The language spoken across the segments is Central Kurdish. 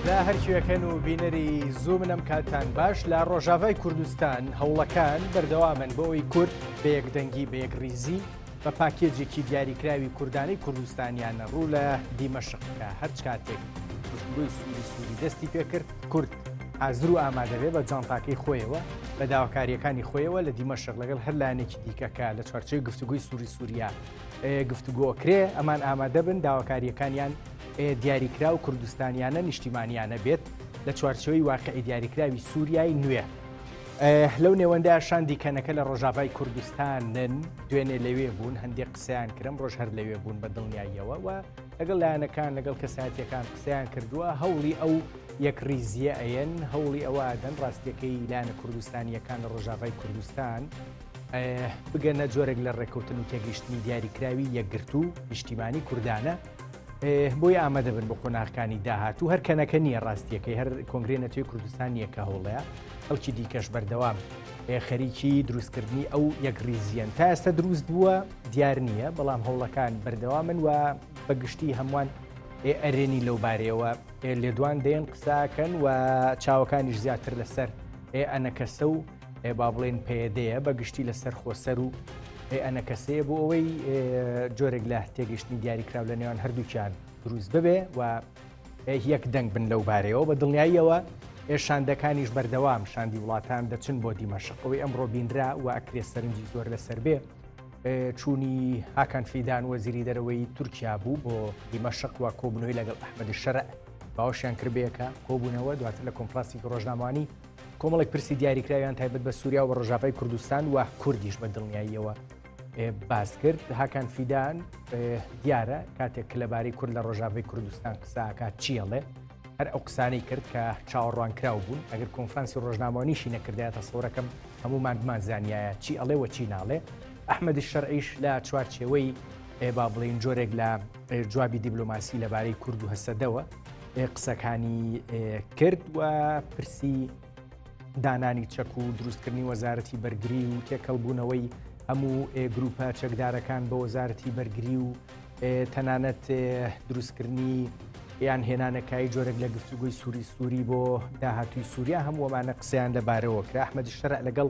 لە هەرکوێک هەن و بینەری زوومنم کاتان باش لە ڕۆژاڤای کوردستان هەوڵەکان بەردەوامن بۆ ئەوی کورد بە یەکدەنگی بە یەک ریزی بە پاکێجێکی دیاریکراوی کوردانی کوردستانیانە ڕوو لە دیمەشقکە هەر کاتێک گفتگوی سووری سووری دەستی پێکرد کورد حازر و ئامادەبێ بە جانتاکەی خۆیەوە بە داواکاریەکانی خۆیەوە لە دیمەشق لەگەڵ هەر لایەنێکی دیکەکە لە چوارچەی گفتوگوی سووری سووریا گفتوگۆکرێ ئەمان ئامادەبن داواکاریەکانیان دیاریکراو کوردستانیانە نیشتیمانیانە بێت لە چوارچێوەی واقعی دیاریکراوی سووریای نوێ. لەو نێوەندە شاندی کەنەکە لە ڕۆژاڤای کوردستانن دوێنێ لەوێ بوون هەندێک قسەیان کرم ڕۆژ هەر لەوێ بوون بە دڵنیاییەوە و لەگەڵ لایەنەکان لەگەڵ کەساتیەکان قسەیان کردووە هەوڵی ئەو یەک ریزیە ئەیەن هەوڵی ئەوە دەن ڕاستیەکەی لایەنە کوردستانیەکان لە ڕۆژاڤای کوردستان بگەنە جۆرێک لە ڕێککەوتن و تێگەیشتنی دیاریکراوی یەکگرتوو نیشتیمانی کوردانە. بۆی ئامادە بن بۆ قۆناغکانی داهاتوو هەر کەنەکە نییە ڕاستیەکەی هەر کۆنگری نەتوی کوردستان یەکە هەوڵەیە ئەوکی دیکەش بەردەوام خەریکی دروستکردنی ئەو یەک ریزیەن تا ئێستا دروست بووە دیار نییە بەڵام هەوڵەکان بەردەوا من و بەگشتی هەمووان ئەرێنی لەو بارەیەوە لێدوان دێن قساکەن و چاوەکانیش زیاتر لەسەر ئەنەکەسە و ئێ با بڵێین پەیەدەیە بە گشتی لەسەر خۆسەر و ئێ ئەنەکەسەیە بۆ ئەوەی جۆرێک لە تێگەشتنی دیاریکراو لە نێوان هەردووکیان دروست ببێ و یەک دەنگ بن لەو بارەیەوە بە دڵنیاییەوە ئێشاندەکانیش بەردەوام شاندی وڵاتان دەچن بۆ دیمەشق ئەوەی ئەمڕۆ بینرا و ئەکرێ سەرنجی زۆر لەسەر بێ چوونی هاکان فیدان وەزیری دەرەوەی تورکیا بوو بۆ دیمەشق و کۆبنەوەی لەگەڵ ئەحمەدی شەرع باوەشیان کردبێکە کۆبوونەوە دواتر لە کۆمپلاسی ڕۆژنامانی کۆمەڵێک پرسی دیاریکراویان تایبەت بە سووریا و ڕژاڤای کوردستان و کوردیش بە دڵنیاییەوە باس کرد هاکان فیدان دیارە کاتێک کە لەبارەی کورد لە ڕۆژاوی کوردستان قساکات چیەڵێ هەر ئەو قسانەی کرد کە چاوەڕوان کراو بوون ئەگەر کۆنفرانسی ڕۆژنامەوانیشی نەکردایەتە سەورەکەم هەمومان بمان زانایە چی ئەڵێ وە چی ناڵێ ئەحمەدی شەرعیش لە چوارچێوەی با بڵین جۆرێک لە جوابی دیبلۆماسی لەبارەی کورد و هەسەدەوە قسەکانی کرد و پرسی دانانی چەک و دروستکردنی وەزارەتی بەرگری و تێکەڵبوونەوەی هەموو گروپە چەکدارەکان بە وەزارەتی بەرگری و تەنانەت دروستکردنی یان هێنانەکای جۆرێک لە گفتوگوی سووری سووری بۆ داهاتوی سووریا هەمووەمانە قسەیان لەبارەوە کرا ئەحمەدی شەرع لەگەڵ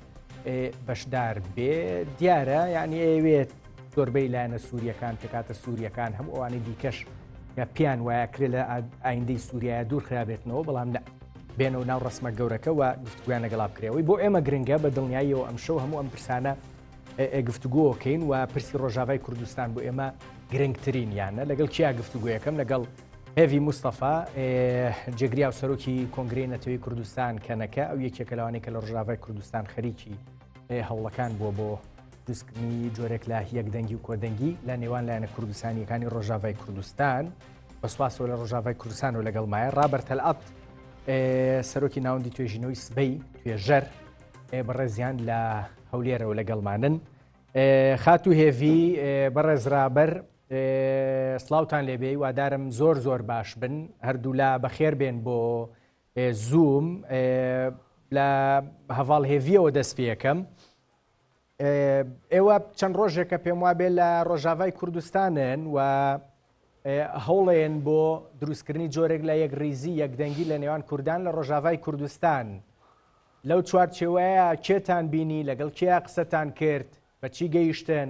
بەشدار بێ دیارە یعنی ئەوێت زۆربەی لایەنە سووریەکان پێکاتە سووریەکان هەم ئەوانی دیکەش کە پیان وایە کرێ لە ئایندەی سووریە دوور خرابێتنەوە بەڵام نە بێنە و ناو ڕسممە گەورەکەەوە گفتگویان لەگەڵا بکرێەوەی بۆ ئێمە گرنگە بە دڵنیاییەوە ئەم شەو هەموو ئەم پرسانە گفتوگۆکەین و پرسی ڕۆژاوای کوردستان بۆ ئێمە گرنگترین یانە لەگەڵ کیا گفتوگویەکەم لەگەڵ هێڤی مستەفا، جێگری و سەرۆکی کۆنگرەی نەتەوەی کوردستان کەنەکە، ئەو یەکێکە لەوانەی کە لە ڕژاڤای کوردستان خەریکی هەوڵەکان بووە بۆ دوستکردنی جۆرێک لە یەک دەنگی و کۆدەنگی لە نێوان لایەنە کوردستانیەکانی ڕۆژاڤای کوردستان بەسواسەوە لە ڕۆژاڤای کوردستان و لەگەڵ مایە ڕابەرتەلعات سەرۆکی ناوەندی توێژینەوەی سبەی توێژەر بەڕێزیان لە هەولێرەوە لەگەڵمانن خاتو هێڤی بەڕێزرابەر سڵاوتان لێ بێ وادارم زۆر زۆر باش بن هەردوولا بەخێر بێن بۆ زووم لە هەڤاڵ هێڤیەوە دەست پێەکەم ئێوە چەند ڕۆژێکە پێم وابێ لە ڕۆژاوای کوردستانن و هەوڵێن بۆ دروستکردنی جۆرێک لە یەک ریزی یەکدەنگی لە نێوان کوردان لە ڕۆژاوای کوردستان لەو چوارچێوەیە کێتان بینی لەگەڵ کێ قسەتان کرد بەچی گەیشتن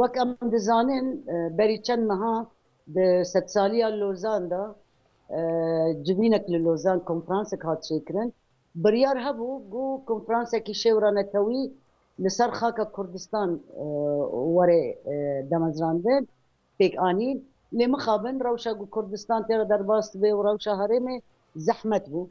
وەک ئەم دزانێن بەری چەند مەها دە سەد سالیا لۆزاندا جڤینەک لە لۆزان کۆنفرانسێک هات چێکرن بڕیار هەبوو گو کۆنفرانسێکی شێورانەتەوی لەسەر خاکە کوردستان وەرێ دەمەزراندن پێکانین لێ مخابن ڕەوشە گو کوردستان تێرە دەرباست بێ و ڕەوشە هەرێمێ زەحمەت بوو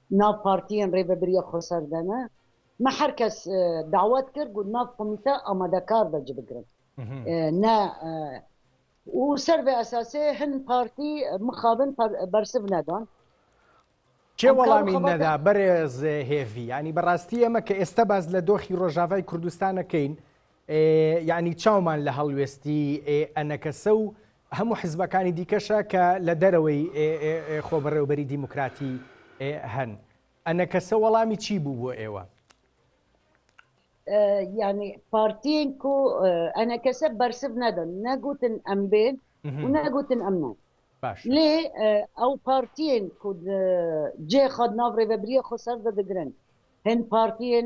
ناو پارتییەن رێ بەبریە خۆ سەردەنە مە هەر کەس داوات کرد گوت ناو کۆمیتە ئامادە کار بە جبگرن نە و سەر بە ئەساسێ هەن پارتی مخابن بەرسڤ نەدان کێ وەڵامی نەدا بەرێز هێڤی ینی بەڕاستی ئەمە کە ئێستا باز لە دۆخی ڕۆژاڤای کوردستانەکەین ینی چاومان لە هەڵوێستی ئەنەکەسە و هەموو حزبەکانی دیکەشە کە لە دەرەوەی خۆبەڕێوبەری دیموکراتی هەن. ئەنەکەسە وەڵامی چی بوو بۆ ئێوە؟ یعنی پارتین کو ئەنەکەسە بەرسب نەدەن نەگوتن ئەم بێن و نەگوتن ئەم نان لێ ئەو پارتین کو جێ خۆد ناو ڕێبەبریە خۆ سەر دەدەگرن هەن پارتین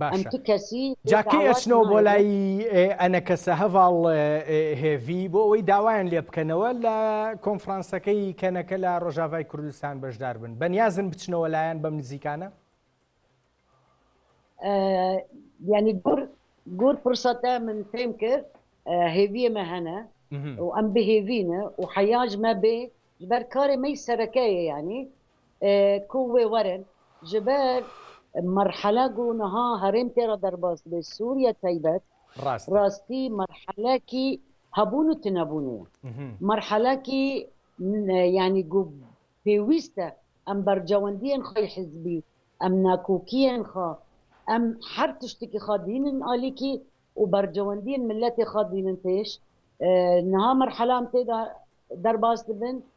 باشە جا کەی ئەچنەوە بۆ لای ئەنەکەسە هەڤاڵ هێڤی بۆ ئەوەی داوایان لێ بکەنەوە لە کۆنفرانسەکەی کەنەکە لە ڕۆژاڤای کوردستان بەشدار بن بەنیازن بچنەوە لایەن بەم نزیکانە ینی گور گور پرسەتە من پێم کرد هێویەمە هەنە و ئەم بهێوینە و حەیاج مەبێ بەر کارێ مەی سەرەکەیە ینی کووێ وەرن ژە بەر مەرحەلە گوو نها هەرێم تێڕە دەرباز دبێ سووریە تەیبەت ڕاستی مەرحەلەکی هەبوون و تنەبوونێ مەرحەلەکی یانی گوو پێویستە ئەم بەرجەوەندیان خۆی حزبی ئەم ناکۆکیان خۆ ئەم هەر تشتێکی خۆ دینن ئالیکی و بەرجەوەندیان ملەتی خۆ دینن پێش نها مەرحەلام تێدا دەرباز دبن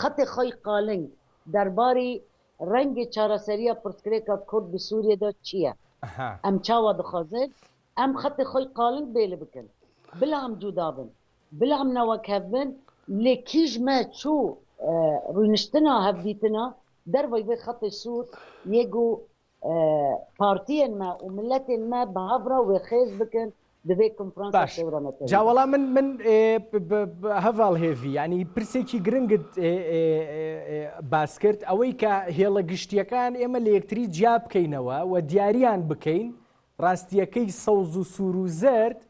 خەتێ خەی قالنگ دەرباری رەنگێ چارەسەریە پرسکرێکا کورد بە سوریەدا چیە؟ ئەم چاوا دخوازن ئەم خەتێ خەی قالنگ بێلە بکن بلا ئەم جودا بن بلا ئەم نەوەک هەڤ بن لێ کیژ مە چوو روینشتنا هەڤدیتنا دەرڤەی ڤێ خەتێ سوور یێ گوو پارتیێن مە و ملەتێن مە بە هاڤرا وێ خێز بکەن دەبێت کنفرانسا سێورەمەکە جاوەڵا من من هەڤاڵ هێڤی ینی پرسێکی گرنگت باس کرد ئەوەی کە هێڵە گشتیەکان ئێمە لە یەکتری جیا بکەینەوە و دیاریان بکەین ڕاستیەکەی سەوز و سوور و زرد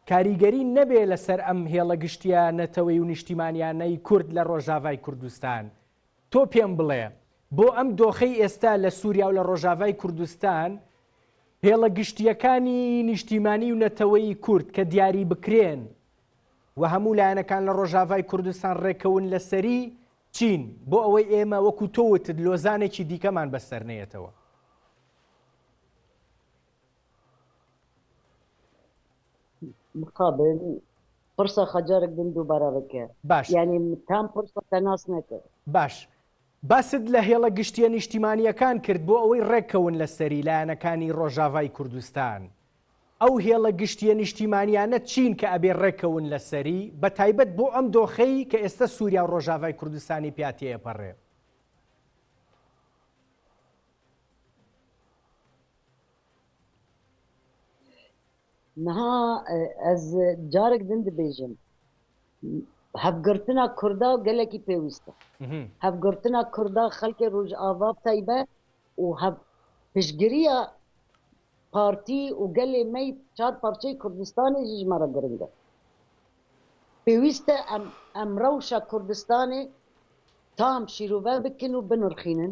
کاریگەری نەبێ لەسەر ئەم هێڵە گشتیە نەتەوەی و نیشتیمانیانەی کورد لە ڕۆژاڤای کوردستان تۆ پێم بڵێ بۆ ئەم دۆخەی ئێستا لە سووریا و لە ڕۆژاڤای کوردستان هێڵە گشتییەکانی نیشتیمانی و نەتەوەیی کورد کە دیاری بکرێن و هەموو لایەنەکان لە ڕۆژاڤای کوردستان ڕێکەون لەسەری چین بۆ ئەوەی ئێمە وەکو تۆ وتت لۆزانێکی دیکەمان بەسەر نەیەتەوە؟ مقابل پرسە خەجەرک بن دووبارە بکە باش یعنی تام پرسە تەناس نەکە باش باست لە هێڵە گشتیە نیشتیمانیەکان کرد بۆ ئەوەی ڕێککەون لە سەری لایەنەکانی ڕۆژاڤای کوردستان ئەو هێڵە گشتیە نیشتیمانیانە چین کە ئەبێ ڕێککەون لە سەری بە تایبەت بۆ ئەم دۆخەی کە ئێستا سووریا و ڕۆژاڤای کوردستانی پیاتەیە پەڕێ نها ئەز جارێک دن دبێژم هەفگرتنا کوردا گەلێکی پێویستە هەفگرتنا کوردا خەلکێ ڕژ ئاوا تایبە و هەف پشگیریە پارتی و گەلێ مەی چار پارچەی کوردستانی ژمارە گرنگە پێویستە ئەم ئەم ڕەوشە کوردستانی تام شیرۆڤە بکن و بنرخینن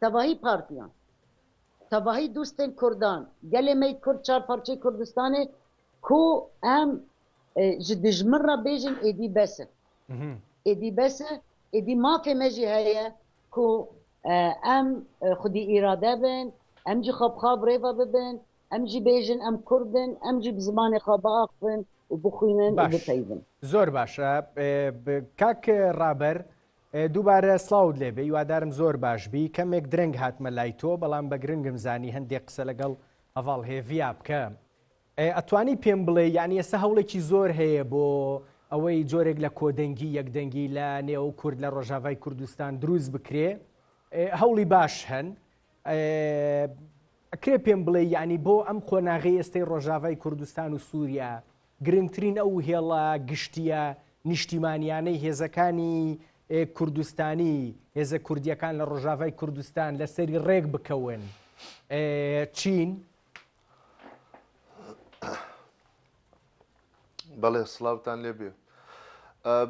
تەڤاهی پارتیان، تەڤاهی دوستێن کوردان، گەلێ مەی کورد چار پارچەی کوردستانێ کو ئەم ژ دژمن را بێژن ئێدی بەسە. ئێدی بەسە، ئێدی مافێ مە ژی هەیە کو ئەم خودی ئیرادە بن، ئەم جی خوا بخوا برێڤە ببن، ئەم جی بێژن ئەم کوردن، ئەم جی زمانێ خوا بئاخفن و بخوینن و بپەیڤن. زۆر باش. کاک رابەر دووبارە سڵاوت لێ بێ یوادارم زۆر باش بی کەمێک درەنگ هاتمە لای تۆ بەڵام بە گرنگم زانی هەندێک قسە لەگەڵ هەڤاڵ هێڤیا بکە ئێ ئەتوانی پێم بڵێ یانی ئێستا هەوڵێکی زۆر هەیە بۆ ئەوەی جۆرێک لە کۆدەنگی یەکدەنگی لە نێو کورد لە ڕۆژاڤای کوردستان دروست بکرێ هەوڵی باش هەن ئەکرێ پێم بڵێ یانی بۆ ئەم قۆناغی ئێستەی ڕۆژاڤای کوردستان و سووریا گرنگترین ئەو هێڵە گشتییە نیشتیمانییانەی هێزەکانی کوردستانی، هێزە کوردییەکان لە ڕۆژاڤای کوردستان لەسەری ڕێک بکەون چین؟ بەڵێ سڵاوتان لێبێ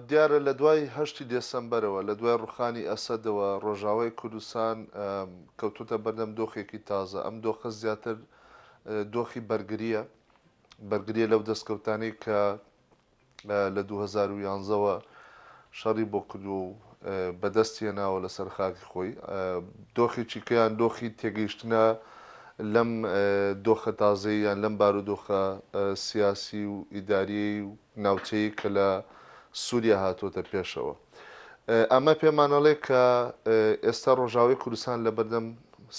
دیارە لە دوای هەشتی دێسمبەرەوە لە دوای ڕوخانی ئەسەدەوە ڕۆژاوای کوردستان کەوتوتە بەردەم دۆخێکی تازە ئەم دۆخە زیاتر دۆخی بەرگریە بەرگریە لەو دەستکەوتانەی کە لە دوو هەزار و یانزە وە شەڕی بۆ کردو و بەدەستی هێناوە لەسەر خاکی خۆی دۆخێکی کەیان دۆخی تێگەیشتنە لەم دۆخە تازەی یان لەم بارودۆخە سیاسی و ئیداری و ناوچەیە کە لە سووریا هاتووەتە پێشەوە. ئەمە پێمانەڵێ کە ئێستا ڕۆژاوی کوردستان لە بەردەم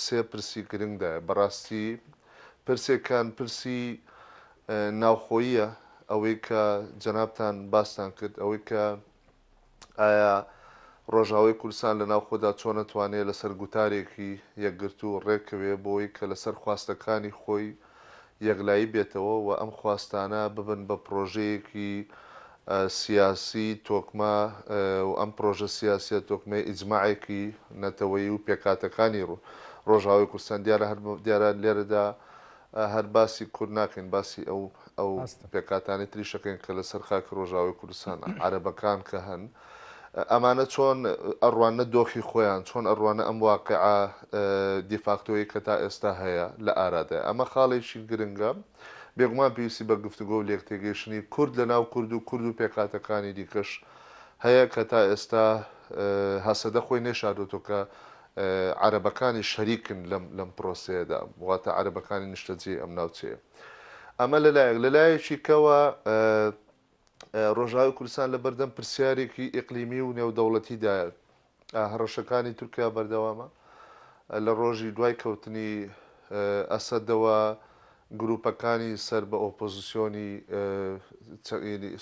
سێ پرسی گرنگدایە بەڕاستی پرسێکان پرسی ناوخۆییە ئەوەی کە جەنابتان باستان کرد ئەوەی کە ئایا ڕۆژاوای کوردستان لە ناوخۆدا چۆن ئەتوانێ لەسەر گوتارێکی یەکگرتوو ڕێکەوێ بۆی کە لەسەر خواستەکانی خۆی یەکلایی بێتەوە و ئەم خواستانە ببن بە پڕۆژەیەکی سیاسی تۆکمە و ئەم پرۆژە سیاسیە تۆکمەی ئیجماعێکی نەتەوەیی و پێکهاتەکانی رۆژئاوای کوردستان دیارە هەر دیارە لێرەدا هەر باسی کورد ناکەین باسی ئەو ئەو پێکهاتانەی تریش دەکەین کە لەسەر خاکی رۆژئاوای کوردستانە عەرەبەکان کە هەن ئەمانە چۆن ئەڕواننە دۆخی خۆیان چۆن ئەڕوانە ئەم واقعە دیفاکتۆیی کە تا ئێستا هەیە لە ئارادایە ئەمە خاڵێکی گرنگە بێگومان پێویستی بە گفتوگۆ و لێکتێگەیشتنی کورد لە ناو کورد و کورد و پێکهاتەکانی دیکەش هەیە کە تا ئێستا هەسەدە خۆی نەیشاردۆتەوە کە عەرەبەکانی شەریکن لەم لەم پرۆسەیەدا واتە عەرەبەکانی نیشتەجێی ئەم ناوچەیە ئەمە لەلایەک لەلایەکی کەوە ڕۆژاوی کوردستان لە بەردەم پرسیارێکی ئیقلیمی و نێودەوڵەتیدایە هەڕەشەکانی تورکیا بەردەوامە، لە ڕۆژی دوای کەوتنی ئەسەدەوە گرووپەکانی سەر بە ئۆپۆزسیۆنی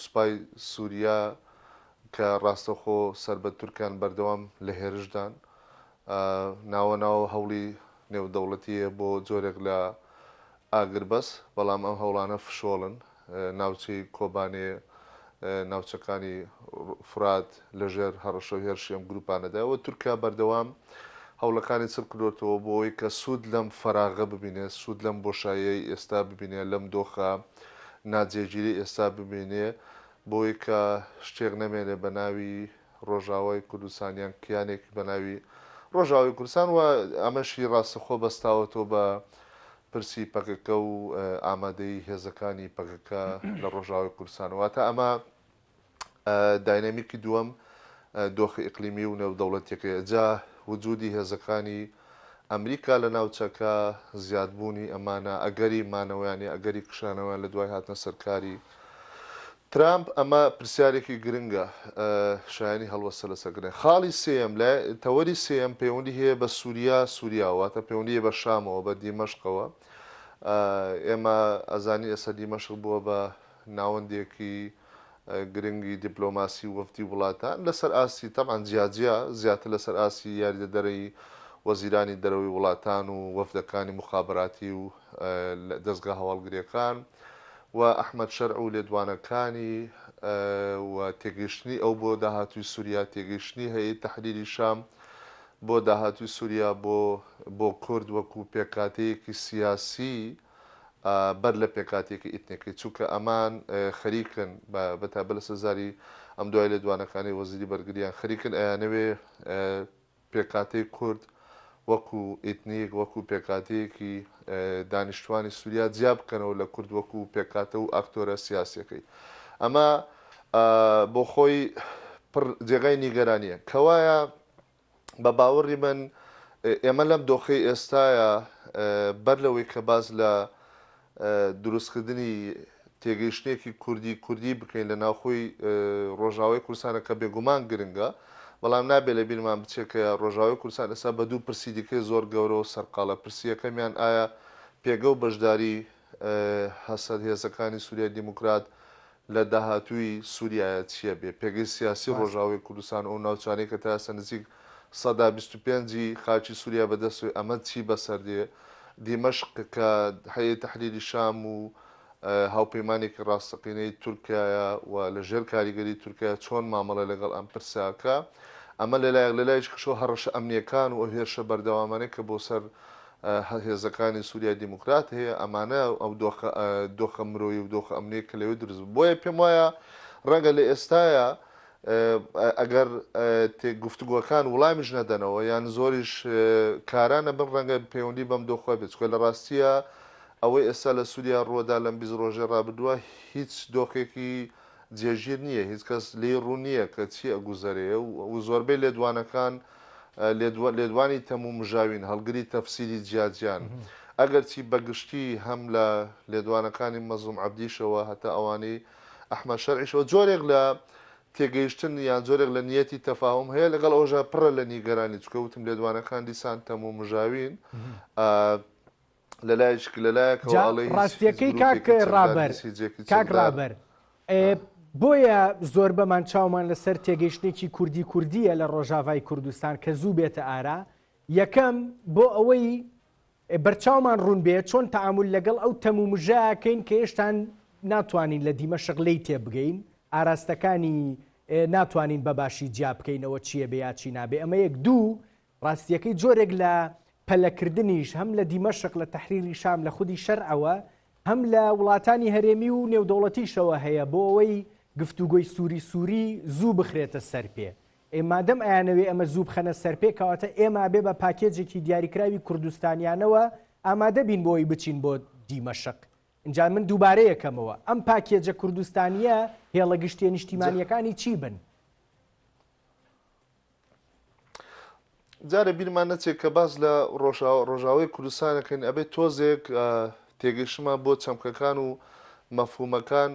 سوپای سووریا کە ڕاستەوخۆ سەر بە تورکن بەردەوام لە هێرشدان، ناوە ناوە هەوڵی نێودەوڵەتی هەیە بۆ جۆرێک لە ئاگربەست، بەڵام ئەم هەوڵانە فشۆڵن، ناوچەی کۆبانێ، ناوچەکانی فورات لەژێر هەڕەشە و هێرشی ئەم گرووپانەدایە و تورکیا بەردەوام هەوڵەکانی چڕ کردۆتەوە بۆ ئەوەی کە سوود لەم فەراغە ببینێ، سوود لەم بۆشاییەی ئێستا ببینێ، لەم دۆخە ناجێگیرەی ئێستا ببینێ بۆ ئەوەی کە شتێک نەمێنێ بە ناوی ڕۆژاوای کوردستان یان کیانێک بە ناوی ڕۆژاوای کوردستان و ئەمەشی ڕاستەخۆ بەستاوەتەوە بە پرسی پەکەکە و ئامادەیی هێزەکانی پەکەکە لە ڕۆژاوای کوردستان واتە ئەمە داینامیکی دووەم دۆخی ئیقلیمی و نێودەوڵەتیەکەی جا وجودی هێزەکانی ئەمریکا لە ناوچەکە زیادبوونی ئەمانە ئەگەری مانەوەیانی ئەگەری کشانەوەیان لە دوای هاتنە سەرکاری ترامپ، ئەمە پرسیارێکی گرنگە، شایانی هەڵوەستە لەسەر گرنگە. خاڵی سێیەم، لایە، تەوەری سێیەم پەیوەندی هەیە بە سوریا، سوریاوە، واتە پەیوەندی هەیە بە شامەوە، بە دیمەشقەوە. ئێمە ئەزانین ئێستا دیمەشق بووە بە ناوەندێکی گرنگی دیپلۆماسی و وەفدی وڵاتان لەسەر ئاستی، تەبعەن جیا جیا، زیاتر لەسەر ئاستی یاریدەدەرەی وەزیرانی دەرەوەی وڵاتان و وەفدەکانی موخابەراتی و، دەزگا هەواڵگریەکان و ئەحمەد شەرع و لێدوانەکانی و تێگەیشتنی ئەو بۆ داهاتووی سوریا، تێگەیشتنی هەیئەی تەحریری شام بۆ داهاتووی سوریا بۆ بۆ کورد وەکوو پێکهاتەیەکی سیاسی بەر لە پێکهاتەیەکی ئیتنیکی چونکە ئەمان خەریکن بە تایبەت لەسەر زاری ئەم دوای لێدوانەکانی وەزیری بەرگریان خەریکن ئەیانەوێ پێکهاتەی کورد وەکو ئیتنیک، وەکو پێکهاتەیەکی دانیشتوانی سوریا جیا بکەنەوە لە کورد وەکو پێکهاتە و ئاکتۆرە سیاسیەکەی. ئەمە بۆ خۆی پڕ جێگای نیگەرانیە. کەوایە بە باوەڕی من ئێمە لەم دۆخەی ئێستایا بەر لەوەی کە باس لە دروستکردنی تێگەیشتنێکی کوردی کوردی بکەین لە ناوخۆی ڕۆژاوای کوردستانە کە بێگومان گرنگە بەڵام نابێ لە بیرمان بچێ کە ڕۆژاوای کوردستان ئێستا بە دوو پرسی دیکەی زۆر گەورە و سەرقاڵە پرسی یەکەمیان ئایا پێگە و بەشداری هەسەد هێزەکانی سوریای دیموکرات لە داهاتووی سوریایە چیە بێ پێگەی سیاسی ڕۆژئاوای کوردستان و ئەو ناوچانەی کە تا ئێستا نزیک سەدا بیست و پێنج ی خاکی سوریا بە دەستەوەی ئەمە چی بەسەر دێ دیمەشق کە هەیئەی تەحریری شام و هاوپەیمانێکی ڕاستەقینەی تورکیایە و لە ژێر کاریگەری تورکیایە چۆن مامەڵە لەگەڵ ئەم پرسە ئەکا ئەمە لە لایەک لە لایەکی کشەوە هەڕەشە ئەمنیەکان و ئەو هێرشە بەردەوامانەی کە بۆ سەر هێزەکانی سوریای دیموکرات هەیە، ئەمانە ئەو دۆخە دۆخە مرۆیی و دۆخە ئەمنییە کە لەوێ دروست بوو. بۆیە پێم وایە ڕەنگە لە ئێستایا ئەگەر تێ گفتوگۆکان وڵامیش نەدەنەوە یان زۆریش کارا نەبن، ڕەنگە پەیوەندی بەم دۆخە بێت، چونکە لە ڕاستییا ئەوەی ئێستا لە سوریا ڕووەدا لەم بیست ڕۆژەی ڕابردووە هیچ دۆخێکی جێگیر نییە، هیچ کەس لێی ڕوون نییە کە چی ئەگوزەرێ و زۆربەی لێدوانەکان لێدوانی تەموو مژاوین هەڵگری تەفسیری جیاجیان، ئەگەرچی بەگشتی هەم لە لێدوانەکانی مەزڵوم عەبدیشەوە هەتا ئەوانەی ئەحمەد شەرعیشەوە جۆرێک لە تێگەیشتن یان جۆرێک لە نیەتی تەفاهوم هەیە، لەگەڵ ئەوەشا پڕە لە نیگەرانی، چونکە وتم لێدوانەکان دیسان تەموو مژاوین. جا ڕاستیەکەی کاک ڕابەر کاک ڕابەر بۆیە زۆربەمان چاومان لەسەر تێگەیشتنێکی کوردی کوردیە لە ڕۆژاڤای کوردستان کە زوو بێتە ئارا یەکەم بۆ ئەوەی بەرچاومان ڕوون بێت چۆن تعامل لەگەڵ ئەو تەم و مژاکەین کە هێشتان ناتوانین لە دیمە شغلەی تێبگەین ئاراستەکانی ناتوانین بەباشی جیا بکەینەوە چییە بێ یاچی نابێ ئەمە یەک دوو ڕاستییەکەی جۆرێک لە پەلەکردنیش هەم لە دیمەشق، لە تەحریری شام، لە خودی شەرعەوە، هەم لە وڵاتانی هەرێمی و نێودەوڵەتیشەوە هەیە بۆ ئەوەی گفتوگۆی سووری سووری زوو بخرێتە سەرپێ. ئێ مادەم ئەیانەوێ ئەمە زوو بخەنە سەرپێ کەواتە ئێمە ئەبێ بە پاکێجێکی دیاریکراوی کوردستانیانەوە ئامادە بین بۆ ئەوەی بچین بۆ دیمەشق. ئینجا من دووبارە یەکەمەوە ئەم پاکێجە کوردستانییە هێڵە گشتییە نیشتیمانییەکانی چی بن؟ جارێ بیرمان نەچێت کە باس لە ڕۆژاوی کوردستانەکەین ئەبێت تۆزێک تێگەشتمان بۆ چەمکەکان و مەفهومەکان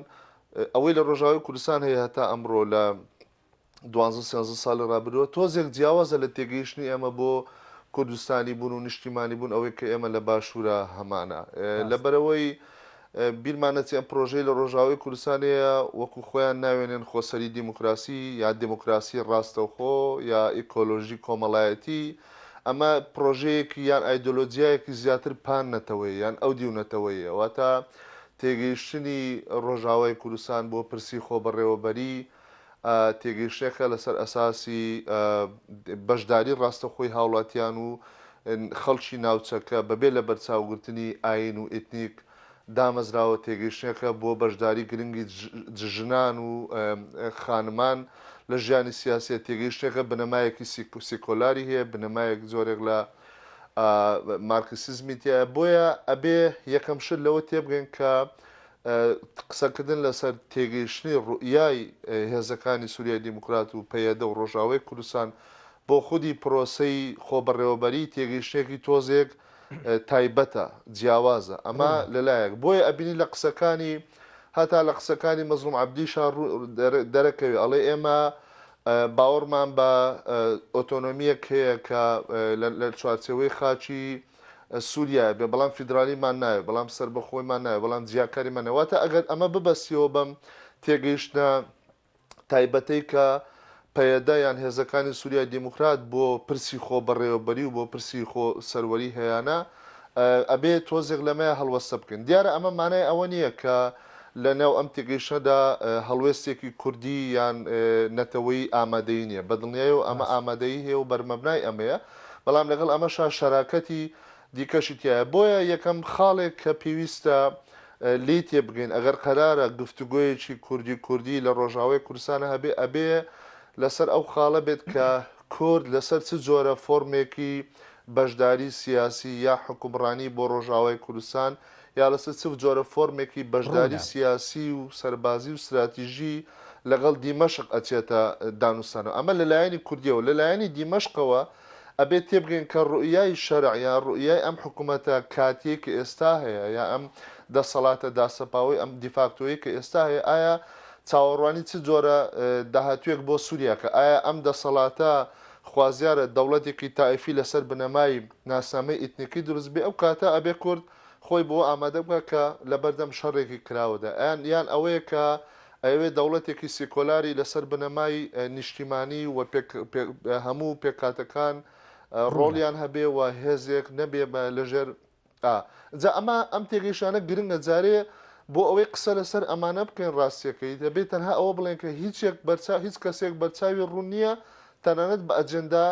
ئەوەی لە ڕۆژاوی کوردستان هەیە هەتا ئەمڕۆ لە دوانزە سێزە ساڵی ڕابرۆ تۆزێک جیاوازە لە تێگەیشتنی ئەمە بۆ کوردستانی بوون و نیشتیمانی بوون ئەوەی کە ئێمە لە باشوورە هەمانە لەبەرەوەی بیرمان نەچێ ئەم پرۆژەی لە ڕۆژاوای کوردستان هەیە وەکو خۆیان ناوێنێن خۆسەری دیموکراسی یا دیموکراسی ڕاستەوخۆ یا ئیکۆلۆژی کۆمەڵایەتی، ئەمە پرۆژەیەکی یان ئایدۆلۆجیایەکی زیاتر پان نەتەوەیە یان ئەو دیو نەتەوەیە، واتە تێگەیشتنی ڕۆژاوای کوردستان بۆ پرسی خۆبەڕێوەبەری، تێگەیشتنێکە لەسەر ئەساسی بەشداری ڕاستەخۆی هاوڵاتیان و خەڵکی ناوچەکە بەبێ لە بەرچاوگرتنی ئاین و ئیتنیک دامەزراوە، تێگەیشتنێکە بۆ بەشداری گرنگی ژنان و خانمان لە ژیانی سیاسیە، تێگەیشتنێکە بنەمایەکی سیکۆلاری هەیە، بنەمایەک جۆرێک لە مارکسیزمی تیایە، بۆیە ئەبێ یەکەم شت لەوە تێبگەین کە قسەکردن لەسەر تێگەیشتنی ڕوئیای هێزەکانی سوریای دیموکرات و پەیەدە و ڕۆژاوای کوردستان بۆ خودی پرۆسەی خۆبەڕێوەبەری تێگەیشتنێکی تۆزێک تایبەتە جیاوازە ئەمە لەلایەک بۆیە ئەبینی لە قسەکانی هەتا لە قسەکانی مەزلوم عبدیشا دەرەکەوێ ئەڵێ ئێمە باوەڕمان بە ئۆتۆنۆمیەک هەیە کە لە چوارچەوەی خاچی سوریایە بێ بەڵام فیدرالیمان ناوێ بەڵام سەربەخۆیمان ناوێ بەڵام جیاکاریمان ناوێ واتە ئەگەر ئەمە ببەستیەوە بەم تێگەیشتنە تایبەتەی کە پەیەدە یان هێزەکانی سوریای دیموکرات بۆ پرسی خۆ بەڕێوەبەری و بۆ پرسی خۆ سەروەری هەیانە ئەبێ تۆزێک لەمەیە هەڵوەستە بکەن دیارە ئەمە مانای ئەوە نییە کە لە ناو ئەم تێگەیشتەدا هەڵوێستێکی کوردی یان نەتەوەی ئامادەی نییە بەدڵنیای و ئەمە ئامادەی هەیە و بەرمەبنای ئەمەیە بەڵام لەگەڵ ئەمەشا شەراکەتی دیکەشی تیایە بۆیە یەکەم خاڵێک کە پێویستە لێی تێبگەین ئەگەر قەرارە گفتوگۆیەکی کوردی کوردی لە ڕۆژاوای کوردستانە هەبێ ئەبێ لەسەر ئەو خاڵە بێت کە کورد لەسەر چ جۆرە فۆرمێکی بەشداری سیاسی یا حکومڕانی بۆ ڕۆژاوای کوردستان یارسە چ جۆرە فۆرمێکی بەشداری سیاسی و سەربازی و ستراتیژی لەگەڵ دیمەشق ئەچێتە دانوستانەوە؟ ئەمە لە لایەنی کوردیەوە. لە لایەنی دیمەشقەوە ئەبێ تێبگەین کە ڕوئیای شەرع یا ڕوئیای ئەم حکومەتە کاتیەی کە ئێستا هەیە یا ئەم دەسەڵاتە داسەپاوەی ئەم دیفاکتۆیەی کە ئێستا هەیە ئایا چاوەڕوانی چ جۆرە داهاتوێک بۆ سووریا کە ئایا ئەم دەسەڵاتە خوازیارە دەوڵەتێکی تائیفی لەسەر بنەمای ناسنامەی ئیتنیکی دروست بێ ئەو کاتە ئەبێ کورد خۆی بەوە ئامادە بکات کە لە بەردەم شەڕێکی کراوەدا یان یان ئەوەیە کە ئەیەوێت دەوڵەتێکی سیکۆلاری لەسەر بنەمای نیشتیمانی و هەموو پێکهاتەکان ڕۆڵیان هەبێ و هێزێک نەبێ لەژێر جا ئەمە ئەم تێگەیشتانە گرنگە جارێ بۆ ئەوەی قسە لەسەر ئەمانە بکەین ڕاستیەکەی دەبێت تەنها ئەوە بڵێن کە هیچێک بەرچاو هیچ کەسێک بەرچاوی ڕوون نییە تەنانەت بە ئەجندا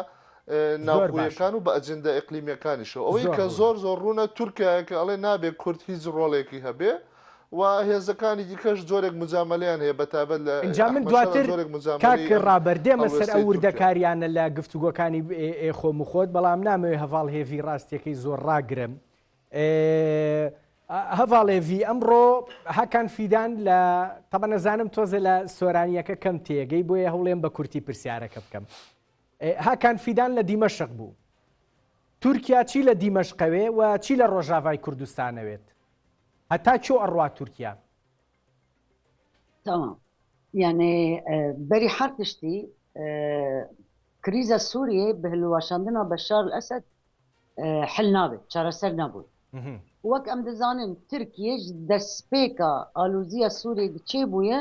ناوخۆیەکان و بە ئەجندە ئیقلیمیەکانیشەوە ئەوەی کە زۆر زۆر ڕوونە تورکایە کە ئەڵێ نابێ کورد هیچ ڕۆڵێکی هەبێ و هێزەکانی دیکەش زۆرێک مجاملیان هەیە بەتابەت لە ئینجا من دواتر کاک ڕابەردێمە سەر ئەو وردەکاریانە لە گفتوگۆکانی خۆم و خۆت بەڵام نامەوێ هەڤاڵ هێڤی ڕاستیەکەی زۆر ڕاگرم هەڤاڵێڤی ئەمڕۆ هەکان فیدان لە تەبە نەزانم تۆزە لە سۆرانیەکە کەم تێگەی بۆیە هەوڵێن بە کورتی پرسیارەکە بکەم هاکان فیدان لە دیمەشق بوو. تورکیا چی لە دیمەشقەوێ و چی لە ڕۆژاڤای کوردستانەوێت؟ هەتا کۆ ئەڕوا تورکیا؟ تمام یعنی بەری هەر تشتی کریزە سووریێ بە هەلوواشاندنا بە شار ئەسد حل نابێت چارەسەر نەبوو وەک ئەم دەزانن ترکیش دەستپێکە ئالوزیە سووری چێ بووە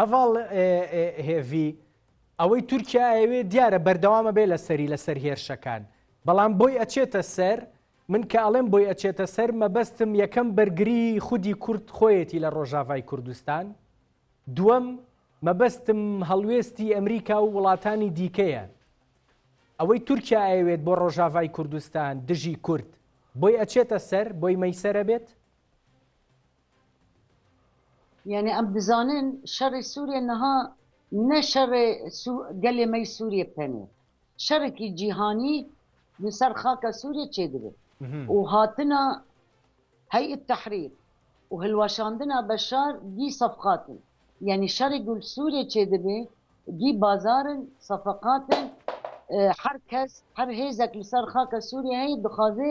هەڤاڵ هێڤی، ئەوەی تورکیا ئەیەوێ دیارە بەردەوامە بێ لە سەری لەسەر هێرشەکان بەڵام بۆی ئەچێتە سەر من کە ئەڵێم بۆی ئەچێتە سەر مەبەستم یەکەم بەرگری خودی کورد خۆیەتی لە ڕۆژاڤای کوردستان دووەم مەبەستم هەڵوێستی ئەمریکا و وڵاتانی دیکەیە ئەوەی تورکیا ئەیەوێت بۆ ڕۆژاڤای کوردستان دژی کورد بۆی ئەچێتە سەر بۆی مەیسەرە بێت یەعنی ئەم بزانن شەڕی سووریە نەها نە شەڕێ گەلێ مەی سووریە بکەنێ شەڕێکی جیهانی لەسەر خاکە سووریە چێدرێت و هاتنە هەی تەحریر و هەلواشاندنا بە شار دی سەفقاتن یەعنی شەڕی گول سووریە چێدەبێ دی بازارن سەفقاتن هەر کەس هەر هێزێک لەسەر خاکە سووریە هەیە دخوازێ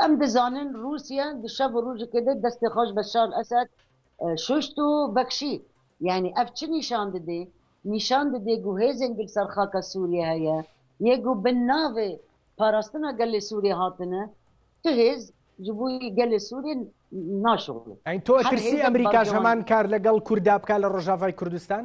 ئەم دەزانن روسیا شەڤ روژی کردە دەستی خۆش بە شار ئەسد شوشت و بەکشی یعنی ئەف چ نیشان ددێ نیشان ددێ گو هێزێن گل سەر خاکە سوریە هەیە یە گو بن ناڤێ پاراستنا گەلێ سوریە هاتنە تو هێز جی بو گەلێ سوریە ناشۆغلێ ئەین تو ئەترسی ئەمریکاش هەمان کار لەگەڵ کوردا بکا لە رۆژاڤای کوردستان؟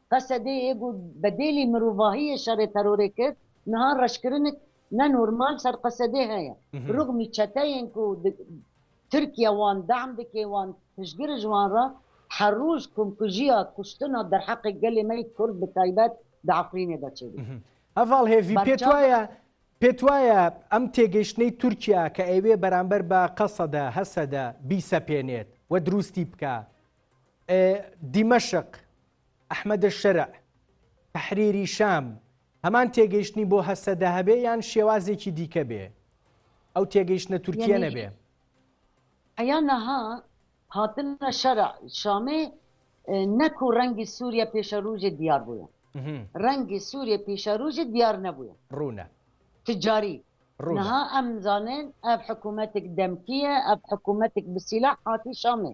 قەسە دێ یێ گوو بە دێلی مروڤاهی یێ شەرێ تەرۆرێ کرد نها رەشکرنک نە نورمال سەر قەسە دێ هەێە روغمی چەتەێن کوو ترکیە وان دەعم دکێ وان پشگرژ وان را هە رووژ کومکوژیا کوشتنا دەر حەقێ گەلێ مەی کورد بە تایبەت دە عەفرینێ دە چێ بی. هەڤاڵ هێڤی پێت وایە پێت وایە ئەم تێگەیشتنەی تورکیا کە ئەیەوێ بەرامبەر بە قەسەدە هەسەدە بیسەپێنێت و دروستی بکا دیمەشق، ئەحمەدەلشەرع، تەحریری شام، هەمان تێگەیشتنی بۆ هەسەدە هەبێ یان شێوازێکی دیکە بێ ئەو تێگەیشتە تورکیە نەبێ ئەیان نەها هاتنە شەر شامێ نەک و ڕەنگی سووریە پێشەروژێ دیار بووە ڕەنگی سووریە پیشەروژێ دیار نەبووە ڕوونە تجاری ڕوونها ئەم زانن ئەف حکوومەتێک دەمکیە ئەف حکوومەتێک بسیلا حاتی شامێ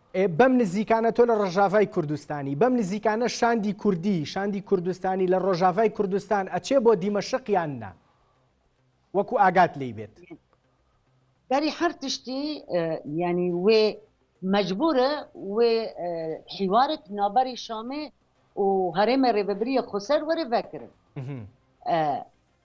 ئێ بەم نزیکانە تۆ لە ڕژاڤای کوردستانی بەم نزیکانە شاندی کوردی شاندی کوردستانی لە ڕۆژاڤای کوردستان ئەچێ بۆ دیمەشقیان نا وەکو ئاگات لی بێت داری هەر تشتی ینی وێ مەجبورە وێ حیوارت نابەری شامێ و هەرێمە ڕێبەبریە خۆسەر وەرە ڤکرن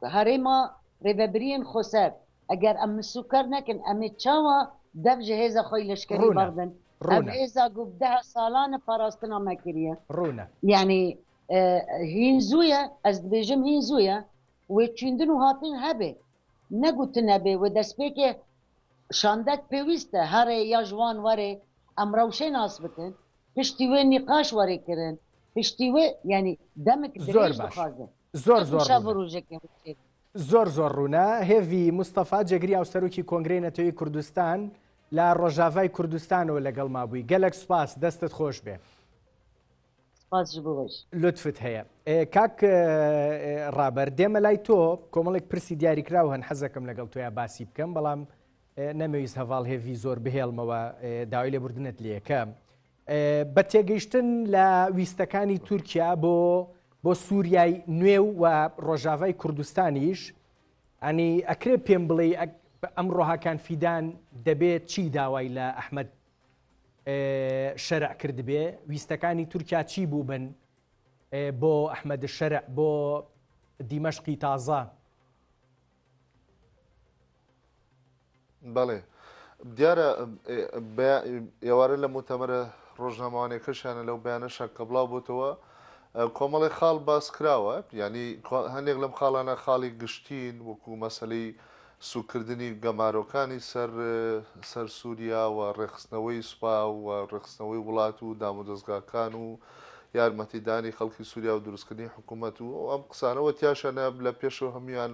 کە هەرێما رێڤەبریێن خوسەر ئەگەر ئەم مسووکەر نەکن ئەمێ چاوا دەڤ جە هێزە خوەی لەشکەری ڕوونە. بەغدن ئەڤ ڕوونە. هێزا گوڤ دەه سالانە پاراستنا مەکریە. ڕوونە. یانی هین زویە، ئەز دبێژم هین زویە وێ چویندن و هاتن هەبێ، نە گوتن ئەبێ وێ دەسپێکێ شاندەگ پێویستە هەرێ یا ژوان وەرێ ئەم رەوشێ ناس بکن، پشتی وێ نیقاش وەرێ کرن، پشتی وێ یانی دەمک زۆر درێژ باش. دخازێ. زۆر زۆر زۆر زۆر ڕوونە هێڤی مستەفا جێگری ئەو سەرۆکی کۆنگری نەتەوەی کوردستان لە ڕۆژاڤای کوردستانەوە لەگەڵ مابووی گەلک سوپاس دەستت خۆش بێ لطفت هەیە کاک ڕابەر دێمە لای تۆ کۆمەڵێک پرسی دیاریکراو هەن حەزەکەم لەگەڵ تۆیا باسی بکەم بەڵام نەمەویست هەواڵ هێڤی زۆر بهێڵمەوە داوای لێبوردنت لەکەم بە تێگەیشتن لە ویستەکانی تورکیا بۆ بۆ سووریای نوێ و و ڕۆژاڤای کوردستانیش ئەنی ئەکرێ پێم بڵێ ئەم ڕۆهاکان فیدان دەبێت چی داوای لە ئەحمد شەرع کردبێ ویستەکانی تورکیا چی بوو بن بۆ ئەحمد شەرع بۆ دیمەشقی تازە بەڵێ دیارە ئێوارە لە متەمەرە ڕۆژنامەوانەکەشیانە لەو بەیانەشە کە بڵاو بۆتەوە کۆمەڵی خاڵ باس کراوە ینی هەندێک لەم خاڵانە خاڵی گشتین وەکو مەسلەی سوکردنی گەمارۆکانی سەر سەر سووریا و ڕێخستنەوەی سوپا و ڕێخستنەوەی وڵات و دامودەستگاکان و یارمەتیدانی خەڵکی سووریا و دروستکردنی حکوومەت و ئەو ئەم قسانە و تیاشانە لە پێشەوە هەموان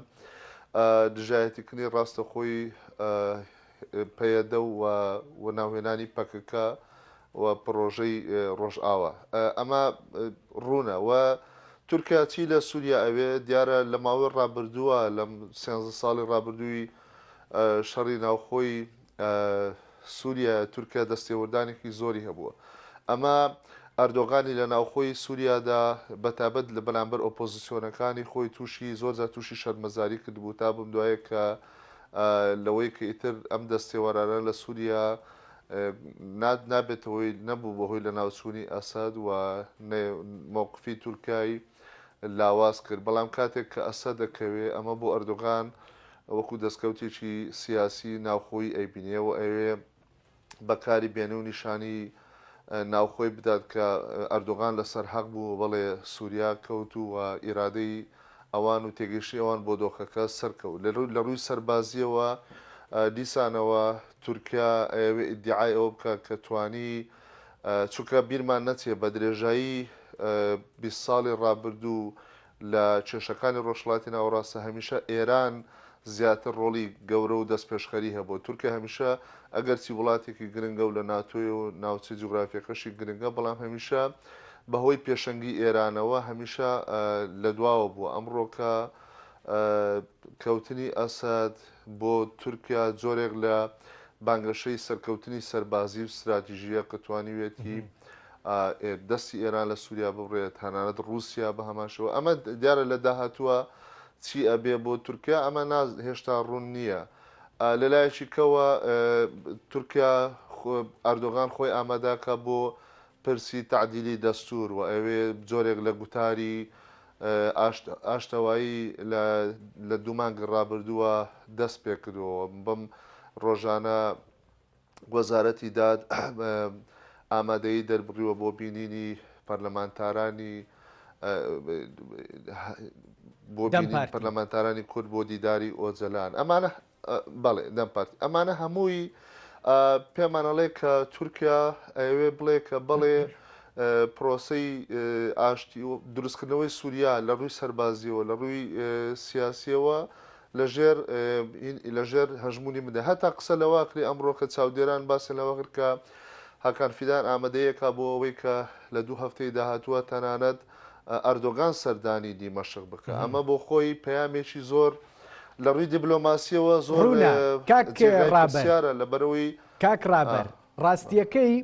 دژایەتیکردنی ڕاستەخۆی پەیەدە و ناوهێنانی پەکەکە و پڕۆژەی ڕۆژئاوە ئەمە ڕوونە و تورکیاچی لە سووریا ئەوێ دیارە لە ماوەی ڕابردووە لەم سێ ساڵی ڕابردووی شەڕی ناوخۆی سوریا تورکە دەستێوەردانێکی زۆری هەبووە ئەمە ئەردۆغانی لە ناوخۆی سووریادا بەتابەت لە بەرامبەر ئۆپۆزیسیۆنەکانی خۆی تووشی زۆر جا تووشی شەرمەزاری کردبوو تا بم دوایە کە لەوەی کە ئیتر ئەم دەستێوارانە لە سووریا ناد نابێتەوەی نەبوو بەهۆی لە ناوچوونی ئەسد و مۆقفی تورکای لاواز کرد بەڵام کاتێک کە ئەسە دەکەوێ ئەمە بۆ ئەردۆغان وەکو دەستکەوتێکی سیاسیی ناوخۆیی ئەیبینێ و ئەیەوێ بە کاری بێنێ و نیشانەی ناوخۆی بدات کە ئەردۆغان لە سەر حەق بوو و بەڵێ سووریا کەوت و ئیرادەی ئەوان و تێگەیشتنی ئەوان بۆ دۆخەکە سەرکەوت. لە رووی سەربازییەوە دیسانەوە تورکیا ئەیەوێ ئیدیعای ئەوە بکات کە توانی چونکە بیرمان نەچێ بە درێژایی بیست ساڵی رابردوو لە کێشەکانی ڕۆژهەڵاتی ناوەڕاستە هەمیشە ئێران زیاتر ڕۆڵی گەورە و دەستپێشخەری هەبووە. تورکیا هەمیشە ئەگەرچی وڵاتێکی گرنگە و لە ناتۆیە و ناوچە جوگرافییەکەشی گرنگە، بەڵام هەمیشە بە هۆی پێشەنگی ئێرانەوە هەمیشە لە دواوە بووە. ئەمڕۆکە. کەوتنی ئەسەد بۆ تورکیا جۆرێک لە بانگەشەی سەرکەوتنی سەربازی و ستراتیژییە کە توانیویەتی دەستی ئێران لە سووریا ببڕێت، تەنانەت ڕووسیا بە هەمان شێوە. ئەمە دیارە لە داهاتووە چی ئەبێ بۆ تورکیا، ئەمە هێشتا ڕوون نییە. لە لایەکی کەوە تورکیا ئەردۆغان خۆی ئامادە کە بۆ پرسی تەعدیلی دەستوور و ئەوێ جۆرێک لە گوتاری ئاشتەوایی لە دوو مانگی ڕابردووە دەست پێکردووە بەم ڕۆژانە وەزارەتی داد ئامادەیی دەربڕیوە بۆ بینینی پەرلەمانتارانی بۆ پەرلەمانتارانی کورد بۆ دیداری ئۆجەلان ئەمانە بەڵێ دەم پارتی ئەمانە هەمووی پێمان ئەڵێ کە تورکیا ئەوێ بڵێ کە بەڵێ پرۆسی ئاشتی و دروستکردنەوەی سووریا لە ڕووی سەربازیەوە لە ڕووی سیاسیەوە لەژێر لەژێر هەژمونی منە هەتا قسە لەواکری ئەمڕۆکە چاودێران باسن لەوەگر کە هاکان فیدان ئامادەیەکە بۆ ئەوەی کە لە دوو هەفتەی داهاتووە تەنانەت ئەردۆگان سەردانی دیمەشق بکە ئەمە بۆ خۆی پەیامێکی زۆر لە ڕووی دیبلۆماسیەوە زۆر ڕوونە کاک جێگای ڕابەر پرسیارە لەبەرەوەی کاک ڕابەر ڕاستیەکەی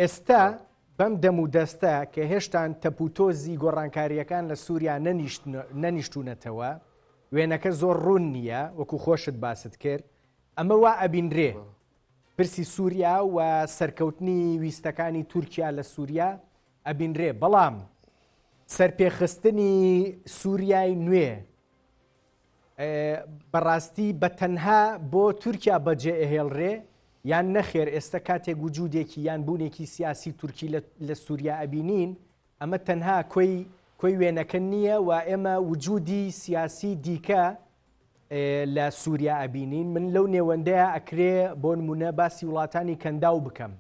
ئێستا بەم دەم و دەستە کە هێشتان تەپوتۆزی گۆڕانکاریەکان لە سووریا نەنیشتونەتەوە وێنەکە زۆر ڕوون نییە وەکو خۆشت باست کرد ئەمە وا ئەبینرێ پرسی سووریا و سەرکەوتنی ویستەکانی تورکیا لە سووریا ئەبینرێ بەڵام سەرپێخستنی سووریای نوێ بەڕاستی بە تەنها بۆ تورکیا بەجێ ئەهێڵرێ یان نەخێر ئێستا کاتێک وجودێکی یان بوونێکی سیاسی تورکی لە سووریا ئەبینین ئەمە تەنها کۆی کۆی وێنەکە نییە و ئێمە وجودی سیاسی دیکە لە سووریا ئەبینین من لەو نێوەندەیە ئەکرێ بۆ نمونە باسی وڵاتانی کەنداو بکەم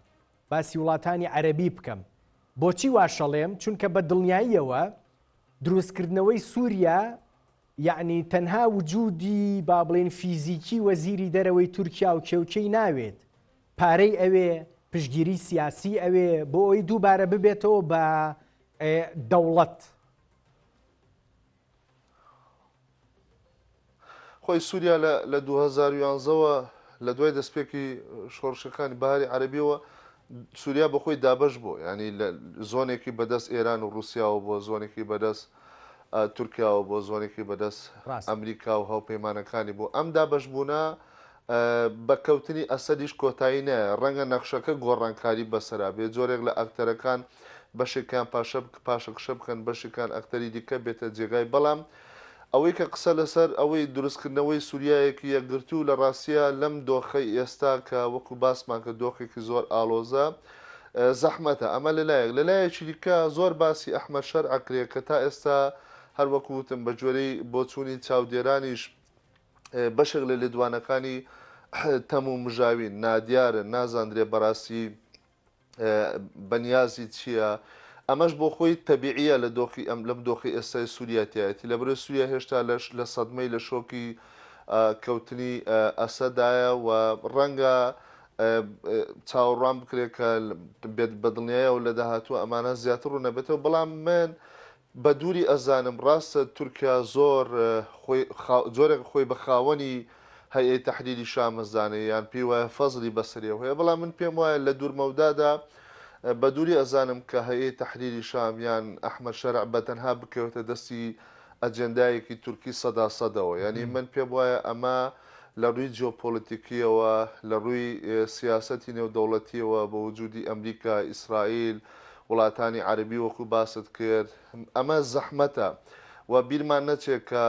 باسی وڵاتانی عەرەبی بکەم. بۆچی واشەڵێم؟ چونکە بە دڵنیاییەوە دروستکردنەوەی سووریا یعنی تەنها وجودی با بڵێن فیزیکی وەزیری دەرەوەی تورکیا و کێوکێی ناوێت پارەی ئەوێ پشگیری سیاسی ئەوێ بۆ ئەوی دووبارە ببێتەوە بە دەوڵەت خۆی سوریا لە لە دوو هەزار و یانزە وە لە دوای دەستپێکی شۆڕشەکانی بەهاری عەرەبیەوە سوریا بە خۆی دابەش بوو ینی لە زۆنێکی بەدەست ئێران و رووسیاوە بۆ زۆنێکی بەدەست تورکیاوە بۆ زۆنێکی بەدەست ئەمریکا و هاوپەیمانەکانی بۆ ئەم دابەش بوونە بە کەوتنی ئەسەدیش کۆتایی نایە، ڕەنگە نەخشەکە گۆڕانکاری بەسەرا بێت، جۆرێک لە ئەکتەرەکان بەشێکیان پاشەکشە بکەن، بەشێکیان ئەکتەری دیکە بێتە جێگای، بەڵام ئەوەی کە قسە لەسەر ئەوەی دروستکردنەوەی سوریایەکی یەکگرتوو لە ڕاستیا لەم دۆخەی ئێستا کە وەکو باسمان کرد دۆخێکی زۆر ئاڵۆزە زەحمەتە، ئەمە لە لایەک، لە لایەکی دیکە زۆر باسی ئەحمەد شەرع ئەکرێت کە تا ئێستا هەروەکو وتم بەگوێرەی بۆچوونی چاودێرانیش بەشێک لە لێدوانەکانی تەم و مژاوین، نادیارن، نازاندرێ بەڕاستی بەنیازی چییە، ئەمەش بۆ خۆی تەبیعییە لە دۆخی ئەم لەم دۆخی ئێستای سووریا تیایەتی، لەبەرئەوەی سووریا هێشتا لەش لە سەدمەی لە شۆکی کەوتنی ئەسەدایە و ڕەنگە چاوەڕوان بکرێت کە بێت بەدڵنیایەوە لە داهاتوو ئەمانە زیاتر ڕوونەبێتەوە، بەڵام من بە دووری ئەزانم ڕاستە تورکیا زۆر خۆی خا جۆرێک خۆی بە خاوەنی هەیئەی تەحریری شام ئەزانێ یان پێی وایە فەزڵی بەسەریەوە هەیە بەڵام من پێم وایە لە دوور مەودادا بە دووری ئەزانم کە هەیئەی تەحریری شام یان ئەحمەد شەرع بە تەنها بکەوێتە دەستی ئەجێندایەکی تورکی سەدا سەدەوە یانی من پێم وایە ئەمە لە رووی جیۆپۆلیتیکییەوە، لە رووی سیاسەتی نێودەوڵەتییەوە، بە وجودی ئەمریکا، ئیسرائیل، وڵاتانی عەرەبی وەکو باست کرد، ئەمە زەحمەتە و بیرمان نەچێت کە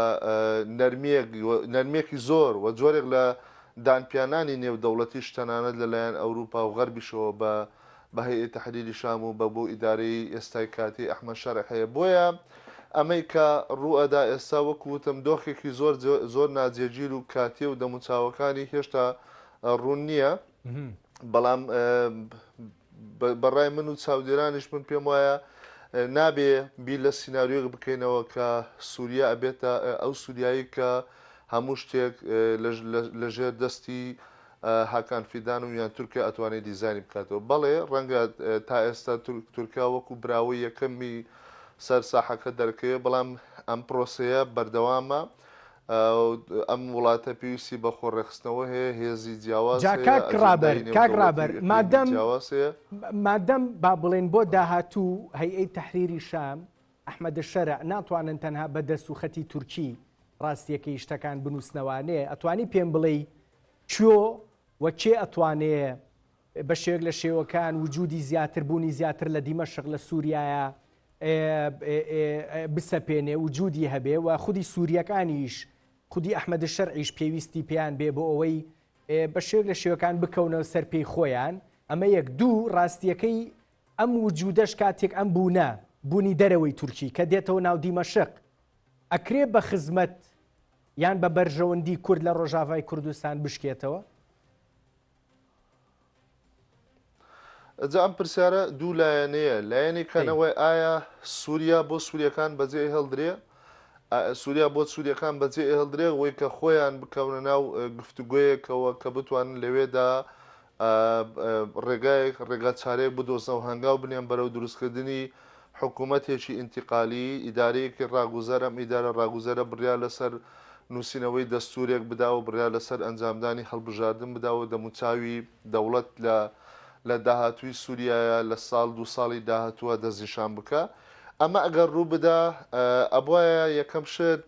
نەرمییەک، نەرمییەکی زۆر و جۆرێک لە دانپیانانی نێودەوڵەتیش تەنانەت لەلایەن ئەوروپا و غەربیشەوە بە بە هەیئەی تەحریری شام و بە بۆ ئیدارەی ئێستای کاتی ئەحمەد شەرع هەیە بۆیە ئەمەی کە ڕووئەدا ئێستا وەکو وتم دۆخێکی زۆر زۆر ناجێگیر و کاتیە و دەموچاوەکانی هێشتا ڕوون نییە بەڵام بەڕای من و چاودێرانیش من پێم وایە نابێ بیر لە سینناریۆک بکەینەوە کە سووریا ئەبێتە ئەو سووریایی کە هەموو شتێک لەژێر دەستی هاکان فیدان و یان تورکا ئەتوانێ دیزاینی بکاتەوە بەڵێ ڕەنگە تا ئێستا تورکا وەکو براوەی یەکەمی سەر ساحەکە دەرکەوێ بەڵام ئەم پرۆسەیە بەردەوامە ئەم وڵاتە پێویستی بە خۆڕێخستنەوە هەیە هێزی جیاواز کاک ڕابەر کاک ڕابەر مادەم جیاوازەیە مادەم با بڵێن بۆ داهاتوو هەیئەی تحریری شام ئەحمەدە شەرع ناتوانن تەنها بە دەست و خەتی تورکی ڕاستیەکەی شتەکان بنووسنەوانێ ئەتوانی پێم بڵێ چۆ و کێ ئەتوانێ بە شێوەک لە شێوەکان وجودی زیاتر بوونی زیاتر لە دیمەشق لە سووریایە بسەپێنێ وجودی هەبێ و خودی سووریەکانیش خودی ئەحمەد شەرعیش پێویستی پێیان بێ بۆ ئەوەی بە شێوەک لە شێوەکان بکەونەوە سەر پێی خۆیان ئەمە یەک دوو ڕاستیەکەی ئەم وجودەش کاتێک ئەم بوونە بوونی دەرەوەی تورکی کە دێتەوە ناو دیمەشق ئەکرێ بە خزمەت یان بە بەرژەوەندی کورد لە ڕۆژاڤای کوردستان بشکێتەوە؟ جا ئەم پرسیارە دوو لایەنەیە لایەنی کەنەوەی ئایا سووریا بۆ سووریەکان بەجێ هەڵدرێ سووریا بۆ سووریەکان بەجێ هەڵدرێ وەی کە خۆیان بکەونە ناو گفتوگویەکەوە کە بتوانن لەوێدا ڕێگایەک، ڕێگا چارەیەک بدۆزنە و هەنگاو بنێن بەرەو دروستکردنی حکوومەتێکی ئینتیقالیی، ئیدارەیەکی ڕاگوزەر، ئەم ئیدارە ڕاگوزەرە بڕیار لەسەر نووسینەوەی دەستوورێک بدا و بڕیار لەسەر ئەنجامدانی هەڵبژاردن بدا و دەموچاوی دەوڵەت لە لە داهاتووی سووریایە لە ساڵ دوو ساڵی داهاتووە دەستنیشان بکا. ئەمە ئەگەر ڕوو بدا، ئەبوایە یەکەم شت،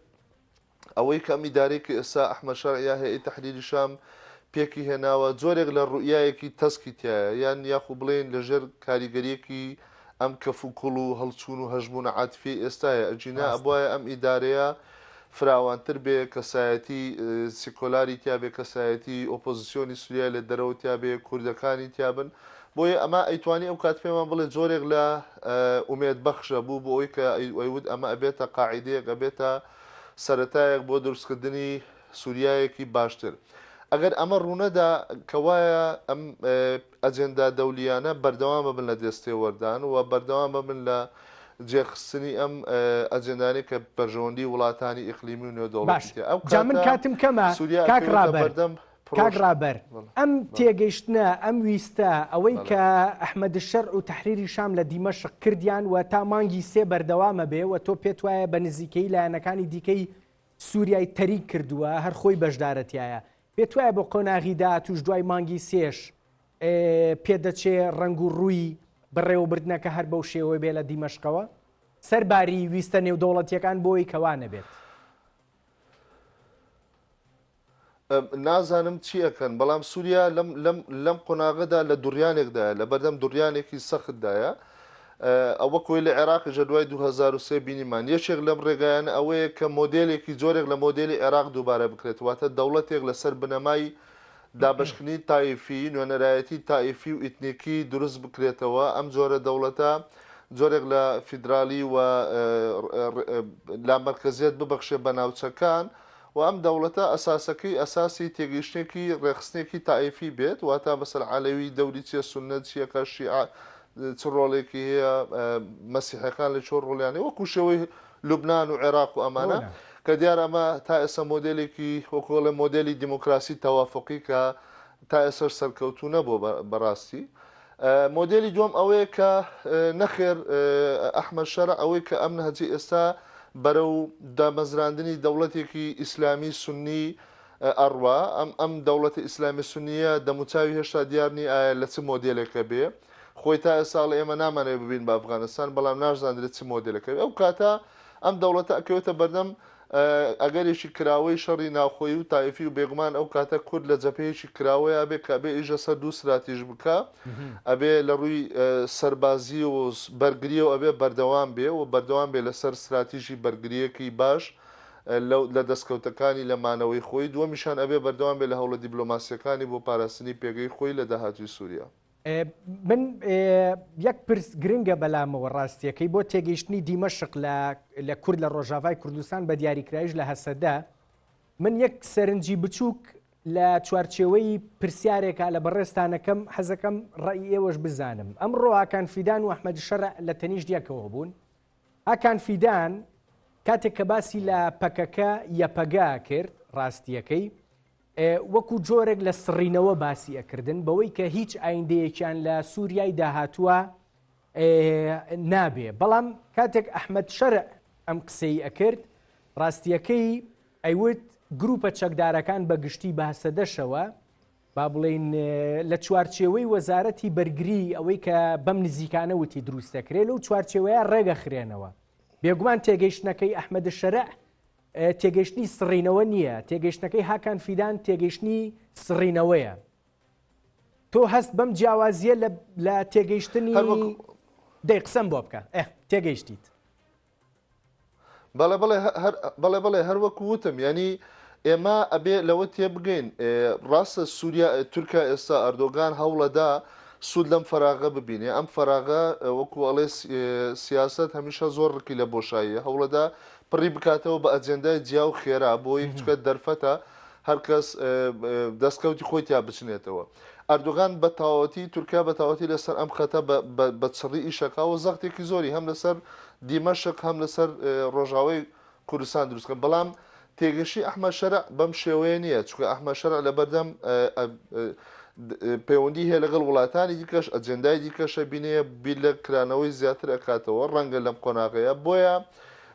ئەوەی کە ئەم ئیدارەی کە ئێستا ئەحمەد شەرع یا هەیئەی تەحریری شام پێکی هێناوە، جۆرێک لە روئیایەکی تەسکی تیایە، یان یاخو بڵێین لە ژێر کاریگەریەکی ئەم کەف و کوڵ و هەڵچوون و هەژموونە عاتفیەی ئێستایە، ئەگینا ڕاستە. ئەبوایە ئەم ئیدارەیە فراوانتر بێ، کەسایەتی سیکۆلاری تیا بێ، کەسایەتی ئۆپۆزسیۆنی سوریای لە دەرەوە تیا بێ، کوردەکانی تیا بن، بۆیە ئەمە ئەیتوانی ئەو کات پێمان بڵێ جۆرێک لە ئومێد بەخشە بوو بۆ ئەوەی کە ئەی ئەیوت ئەمە ئەبێتە قاعیدەیەک ئەبێتە سەرەتایەک بۆ دروستکردنی سوریایەکی باشتر. ئەگەر ئەمە ڕوونەدا کەوایە ئەم ئەجێندا دەولییانە بەردەوام ببن لە دێستێوەردان و بەردەوام ببن لە جێخستنی ئەم ئەجێندانەی کە بەرژەوەندی وڵاتانی ئیقلیمی و نێودەوڵەتی تێ ئەو کاتە سوریا ئەکەوێتە بەردەم کاک ڕابەر ئەم تێگەیشتنە ئەم ویستە ئەوەی کە ئەحمەد شەر و تحریری شام لە دیمەشق کردیان و تا مانگی سێ بەردەوامە بێ و تۆ پێت وایە بە نزیکەی لایەنەکانی دیکەی سووریای تەریک کردووە هەر خۆی بەشدارەتیایە پێت وایە بۆ قۆناغی داهاتوش دوای مانگی سێش پێدەچێ ڕنگ و ڕووی بەڕێوەبردنەکە هەر بەو شێوەی بێ لە دیمەشقەوە سەرباری ویستە نێودەوڵەتیەکان بۆی کەوانە بێت. نازانم چی ئەکەن، بەڵام سووریا لەم قۆناغەدا لە دوڕیانێکدایە، لەبەردەم دوڕیانێکی سەختدایە. ئەوە کۆی لە عێراقی ژە دوای 2023 بینیمان یەکێک لەم ڕێگایان ئەوەیە کە مۆدلێکی جۆرێک لە مۆدلی عێراق دووبارە بکرێت واتە دەوڵەتێک لەسەر بنەمای دابشکنی تایفی نوێنەرایەتی تایفی و ئیتنیکی دروست بکرێتەوە ئەم جۆرە دەوڵەتە جۆرێک لە فیدرالی و لامەرکزیت ببەخشێ بە ناوچەکان و ئەم دەوڵەتە ئەساسەکەی ئەساسی تێگەیشتنێکی ڕێکخستنێکی تائیفی بێت، واتا مەسەلەن عەلەوی دەوری چییە، سوننە چییە، کە شیعە چ ڕۆڵێکی هەیە، مەسیحیەکان لە چۆن ڕۆڵیان هەیە، وەکو شێوەی لوبنان و عێراق و ئەمانە، کە دیارە ئەمە تا ئێستا مۆدێلێکی وەکو بڵێم مۆدێلی دیموکراسی تەوافوقی کە تا ئێستاش سەرکەوتوو نەبووە بە ڕاستی. مۆدێلی دووەم ئەوەیە کە نەخێر ئەحمەد شەرع ئەوەی کە ئەم نەهجەی ئێستا بەرەو دامەزراندنی دەوڵەتێکی ئیسلامی سوننی ئەڕوا، ئەم ئەم دەوڵەتە ئیسلامی سوننییە دەموچاوی هێشتا دیار نی ئایا لە چ مۆدێلێکە بێ، خۆی تا ئێستا ئەڵێ ئێمە نامانەوێ ببین بە ئەفغانستان، بەڵام ناشزاندرێ چ مۆدێلەکە بێ، ئەو کاتە ئەم دەوڵەتە ئەکەوێتە بەردەم ئەگەرێکی کراوەی شەڕی ناوخۆیی و تایفی و بێگومان ئەو کاتە کورد لە جەبهەیەکی کراوەیا بێ کە ئەبێ ئیژە سەر دوو سراتیژ بکە ئەبێ لە ڕووی سەربازی و بەرگری و ئەبێ بەردەوام بێ و بەردەوام بێ لەسەر سراتیژی بەرگریەکی باش لە دەستکەوتەکانی لە مانەوەی خۆی دووەمیشان ئەبێ بەردەوام بێ لە هەوڵە دیبلۆماسیەکانی بۆ پاراستنی پێگەی خۆی لە داهاتووی سوریا. من یەک پرس گرنگە بەلامەوە ڕاستیەکەی بۆ تێگەیشتنی دیمەشق لە کورد لە ڕۆژاڤای کوردستان بە دیاریکرایش لە هەسەدە من یەک سەرنجی بچووک لە چوارچێوەی پرسیارێکە لە بەڕێستانەکەم حەزەکەم ڕێی ئێوەش بزانم ئەم ڕۆهاکان فیدان و ئەحمەد شەر لە تەنیش دیەکەوە بوون ئاکان فیدان کاتێک کە باسی لە پەکەکە یەپەگا کرد ڕاستیەکەی وەکو جۆرێک لە سڕینەوە باسی ئەکردن بەوەی کە هیچ ئایندەیەکیان لە سووریای داهاتووە نابێ بەڵام کاتێک ئەحمد شەرع ئەم قسەی ئەکرد ڕاستیەکەی ئەیوت گروپە چەکدارەکان بە گشتی بەهسەدەشەوە با بڵین لە چوارچێوەی وەزارەتی بەرگری ئەوەی کە بەم نزیکانە وتی دروستەکرێت لەو چوارچێوەیە ڕێگەخرێنەوە بێگومان تێگەیشتنەکەی ئەحمەد شەرع تێگەیشتنی سڕینەوە نییە تێگەیشتنەکەی هاکان فیدان تێگەیشتنی سڕینەوەیە تۆ هەست بەم جیاوازیە لە تێگەیشتنی دەی قسەم بۆ بکە ئە تێگەیشتیت بەڵێ بڵێ بەڵێ بڵێ هەروەکو وتم ینی ئێمە ئەبێ لەوە تێبگەین ڕاستە سووریا تورکیا ئێستا ئەردۆگان هەوڵەدا سوود لەم فراغە ببینێ ئەم فراغە وەکو ئەڵێ سیاست هەمیشە زۆر ڕکی لە بۆشاییە هەوڵەدا پڕی بکاتەوە بە ئەجێندای جیا و خێرا بۆی، چونکە دەرفەتە هەر کەس دەستکەوتی خۆی تیا بچنێتەوە. ئەردۆغان بە تەواوەتی، تورکیا بە تەواوەتی لەسەر ئەم خەتە بە چڕی ئیش ئەکا و زەختێکی زۆری هەم لەسەر دیمەشق هەم لەسەر ڕۆژاوای کوردستان دروست کە، بەڵام تێگەشی ئەحمەد شەرع بەم شێوەیە نییە، چونکە ئەحمەد شەرع لەبەردەم پەیوەندی هەیە لەگەڵ وڵاتانی دیکەش، ئەجێندای دیکەشە، بینێ بیر لە کرانەوەی زیاتر ئەکاتەوە، ڕەنگە لەم قۆناغەیە، بۆیە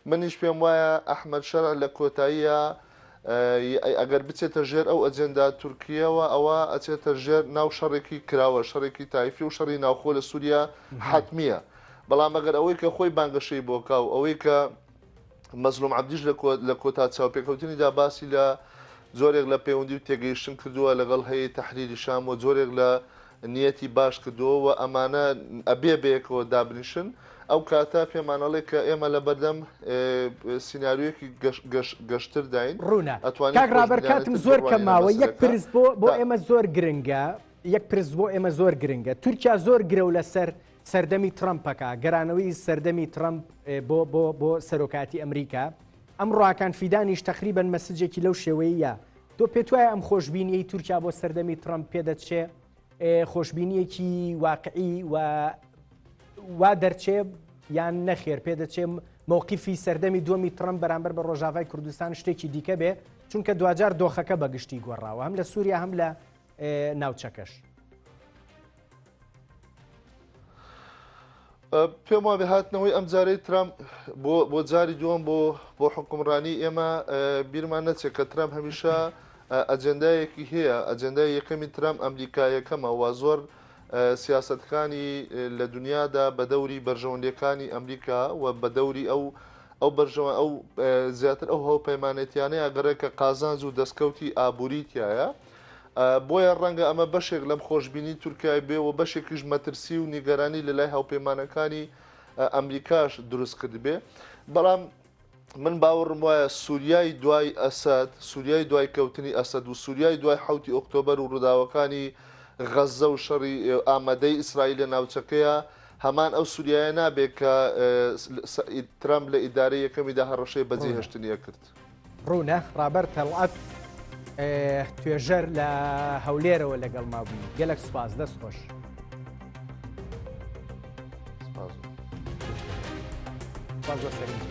منیش پێم وایە ئەحمەد شەرع لە کۆتاییە ئەگەر بچێتە ژێر ئەو ئەجێندا تورکیەوە ئەوە ئەچێتە ژێر ناو شەڕێکی کراوە شەڕێکی تایفی و شەڕی ناوخۆ لە سووریا حتممیە بەڵام ئەگەر ئەوەی کە خۆی بانگەشەی بۆکا و ئەوەی کە مەزلوم عبدیش لە کۆتا چاوپێکەوتنیدا باسی لە جۆرێک لە پەیوەندی و تێگەیشتن کردووە لەگەڵ هەیە تحریری شام و جۆرێک لە نیەتی باش کردووە و ئەمانە ئەبێ بەیەکەوە دابنیشن، ئەو کاتە پێمان ئەڵێ کە ئێمە لە بەردەم سیناریۆیەکی گەشترداین. ڕوونە. کاک ڕابەر کاتم زۆر کەم ماوە، یەک پرس بۆ بۆ ئێمە زۆر گرنگە، یەک پرس بۆ ئێمە زۆر گرنگە، تورکیا زۆر گرەو لەسەر سەردەمی ترەمپەکە، گەرانەوەی سەردەمی ترەمپ بۆ بۆ بۆ سەرۆکایەتی ئەمریکا، ئەمڕاکان فیدانیش تەقریبەن مەسجێکی لەو شێوەیە. تۆ پێت وایە ئەم خۆشببینیی تورکیا بۆ سەردەمی ترەمپ پێدەچێ خۆشببینیەکی واقعی و وا دەرچێ یان نەخێر پێدەچێم مووقیفی سەردەمی دومی ترم بەرامبەر بە ڕۆژاوای کوردستان شتێکی دیکە بێ چونکە دوجار دۆخەکە بەگشتی گۆڕاوە هەم لە سووریا هەم لە ناوچەکەش. پێم وابێ هاتنەوەی ئەم جارەی ترام بۆ جاری دووەم بۆ بۆ حکومڕانی ئێمە بیرمان نەچێت کە ترام هەمیشە ئەجندایەکی هەیە ئەجندای یەکەمی ترام ئەمریکا یەکەمە وا زۆر سیاستەکانی لە دنیادا بە دەوری بەرژەوەندەکانی ئەمریکا و بە دەوری ئەو ئەو بەرژەوە ئەو زیاتر ئەو هەوپەیمانێتیانەیە گەڕێکە قازانج و دەستکەوتی ئابووریتیایە بۆیە ڕەنگە ئەمە بەشێک لەم خۆشبینی تورکیای بێ و بەشێکیش مەترسی و نیگەرانی لە لای هاوپەیمانەکانی ئەمریکاش دروست کردبێ بەڵام من باوەڕم وایە سووریای دوای ئەسد سووریای دوای کەوتنی ئەسد و سووریای دوای حوتی ئۆکتۆبەر و ڕووداوەکانی غەزە و شەڕی ئامادەی ئیسرائیل لە ناوچەکەیە هەمان ئەو سووریایە نابێت کە ترامپ لە ئیدارەی یەکەمیدا هەڕەشەی بەجێهێشتنیە کرد. ڕوونە ڕابەر تەڵعەت توێژەر لە هەولێرەوە لەگەڵ مابووی گەلک سوپاس دەست خۆش. سپاس بۆ سەرنجی.